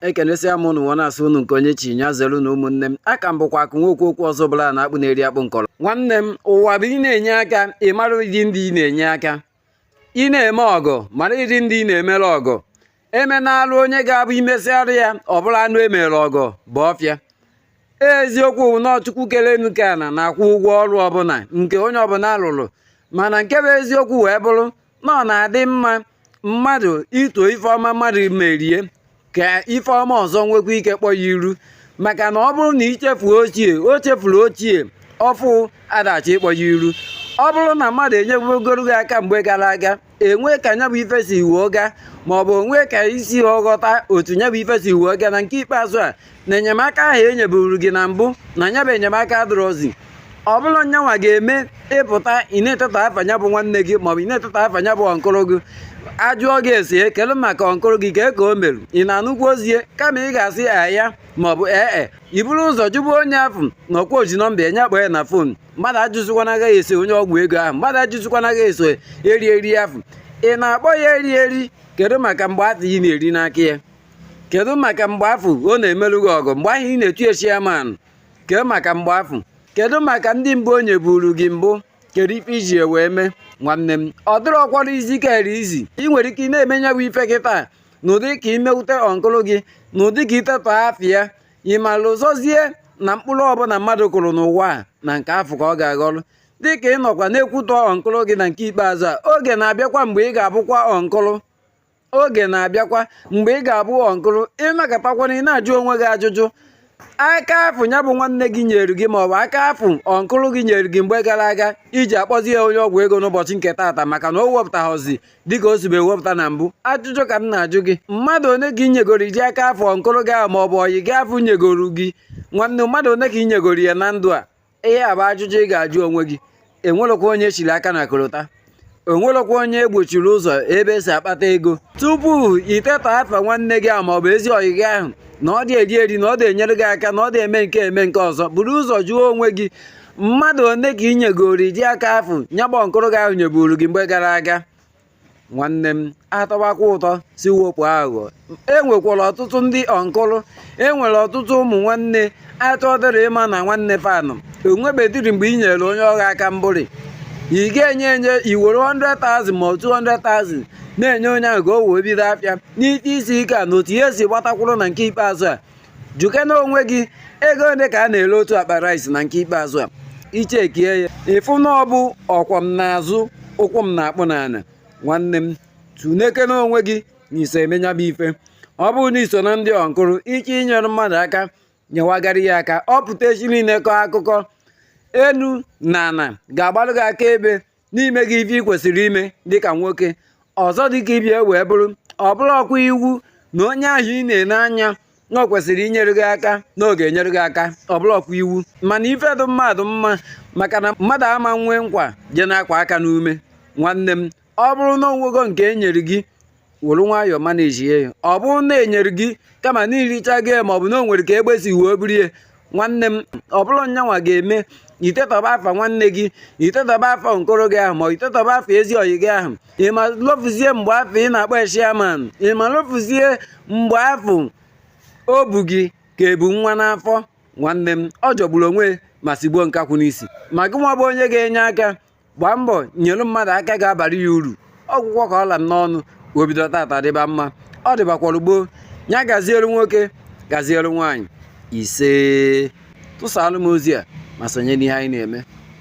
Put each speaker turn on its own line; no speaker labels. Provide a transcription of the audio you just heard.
ekenesia m ụnụ nwa na-asụ ụnụ nke onye chi nya zere na ụmụnne m afa m bụkwa akụ nwoke okwu ọzọ bụla na akpụ na-eri akpụ nkọrọ nwanne m ụwa bụ ị na-enye aka ị mara ụdị ndị ị na-enye aka ị na-eme ọgọ mara ụdị ndị ị na-emere ọgọ emenarụ onye ga-abụ imesịarụ ya ọ bụrụ anụ emere ọgọ ba ọfịa eziokwu na ọ Chukwu kelu enu kee ana na-akwụ ụgwọ ọrụ ọbụla nke onye ọbụla rụrụ mana nke bụ eziokwu wee bụrụ na ọ na-adị mma mmadụ ito ifeọma mmadụ merie ka ifeọma ọzọ nwekwa ike kpọ ya iru maka na ọ bụrụ na ichefuo ochie o chefuru ochie ọfụ adachi ịkpọ ya iru ọ bụrụ na mmadụ enyebugoro gị aka mgbe gara aga enwe ka nya bụ ife si wee gaa maọbụ o nwe ka isi ghọta otu nya bụ ife si wee gaa na nke ikpeazụ a na enyemaka ahụ e nyeburu gị na mbụ na nya bụ enyemaka adịrọzi ọ bụrụ nya nwa ga-eme ị pụta ị na-etetọ afa nya bụ nwanne gị maọbụ ị na-etetọ afa nya bụ ọnkụlụ gị ajụọ gị asị kee maka ọnkụlụ gị kee ka o merụ ị na-anụkwu ozie kama ị ga-asị ya maọbụ ee e iburu ụzọ jụbụ onye afụ na ọkwa oji nọmba enye akpọ ya na fon mmadụ ajụzikwana agaghị eso onye ọgwụ ego ahụ mmadụ ajụzikwana agaghị eso eri eri afụ ị na-akpọ ya eri eri kedu maka mgbe afụ ị na-eri n'aka ya kedu maka mgbe afụ ọ na-emerụ gị ọgọ mgbe ahụ ị na-etu ya chairman kee maka mgbe afụ kedu maka ndị mbụ o nyeburu gị mbụ kedu ife iji ya wee mee nwanne m ọ dịrọ ọkwara izi kere izi ị nwere ike ị na-eme nya bụ ife kịtaa n'ụdị ka imewute ọnkụlụ gị n'ụdị ka itetọ afa ya ị mara ụzọzie na mkpụrụ ọbụla mmadụ kụrụ n'ụwa a na nke afụ ka ọ ga-aghọrọ dịka ị nọkwa na-ekwutọ ọnkụlụ gị na nke ikpeazụ a oge na-abịakwa mgbe ị ga-abụkwa ọnkụlụ oge na-abịakwa mgbe ị ga-abụ ọnkụlụ ị nọkatakwana ị na-ajụ onwe gị ajụjụ aka afụ ya bụ nwanne gị nyere gị ma ọ bụ aka afụ ọnkụlụ gị nyere gị mgbe gara aga iji akpọzi ya onye ọgwụ ego n'ụbọchị nke taata maka na o wepụtaghịzi dịka o sibu ewepụta na mbụ ajụjụ ka m na-ajụ gị mmadụ one ka inyegoro ụdị aka afụ ọnkụlụ gị ahụ ma ọ bụ ọyị gị afụ nyegoro gị nwanne mmadụ one ka inyegoro ya na ndụ a ihe a bụ ajụjụ ị ga-ajụ onwe gị enwerọkwa onye chiri aka na korota enwerọkwa onye egbochiri ụzọ ebe esi akpata ego tupu itetọ afa nwanne gị ahụ maọbụ ezi ọyị gị ahụ na ọ dị eri eri na ọ dị enyere gị aka na ọ dị eme nke a eme nke ọzọ buru ụzọ jụọ onwe gị mmadụ one ka ị nyegoro ụdị aka afụ nya bụ ọnkụlụ gị ahụ nyeburu gị mgbe gara aga nwanne m atọwakwa ụtọ si wepụ aghụghọ enwekwara ọtụtụ ndị ọnkụlụ enwere ọtụtụ ụmụ nwanne achọdịrọ ịma na nwanne fa nọ o nwebediri mgbe ị nyere onye ọgha aka mbụrị ị ga-enye enye iwere 100,000 ma 200,000 na-enye onye ahụ ka o wee bido afịa n'ike isi ike a na otu ihe si gbatakwụrụ na nke ikpeazụ a jụkene onwe gị ego ole ka a na-ere otu akpa rice na nke ikpeazụ a i chekie ya ị fụ na ọ bụ ọ kwọ m n'azụ ụkwụ m na-akpụ n'ana nwanne m tunekene onwe gị na i so eme nya bụ ife ọ bụrụ na i so na ndị ọnkụrụ ike inyere mmadụ aka nyewagara ya aka ọ pụta echi niile kọọ akụkọ enu na ana ga-agbalụ gị akaebe n'ime gị ife ị kwesịrị ime dịka nwoke ọzọ dịka ibe ya wee bụrụ ọ bụrọkwa iwu na onye ahụ ị na-ele anya na ọ kwesịrị inyere gị aka na ọ ga-enyere gị aka ọ bụrọkwa iwu mana ife dị mmadụ mma maka na mmadụ ama nwee nkwa je na-akụ aka n'ume nwanne m ọ bụrụ na o nwego nke e nyere gị were nwayọọ manage ya ọ bụrụ na e nyere gị kama na i richago ma ọ bụ na o nwere ka egbe si wee buru ya nwanne m ọ bụrọ nyanwa ga-eme i tetọba afa nwanne gị i tetọba afa uncle gị ahụ ma i tetọba afa ezi ọyị gị ahụ ị ma lofuzie mgbe afụ ị na-akpọ ya chairman ị ma lofuzie mgbe afụ o bu gị ka e bu nwa n'afọ nwanne m ọ jọgburu onwe ma sigbuo nkakwụ n'isi ma gị nwa bụ onye ga-enye aka gbaa mbọ nyere mmadụ aka ga-abara ya uru ọ gwụgo ka ọ ra m n'ọnụ o bido tata dịba mma ọ dịbakwara gboo ya gaziere nwoke gaziere nwaanyị isee tụsaalụ m ozi a ma sonye n'ihe anyị na-eme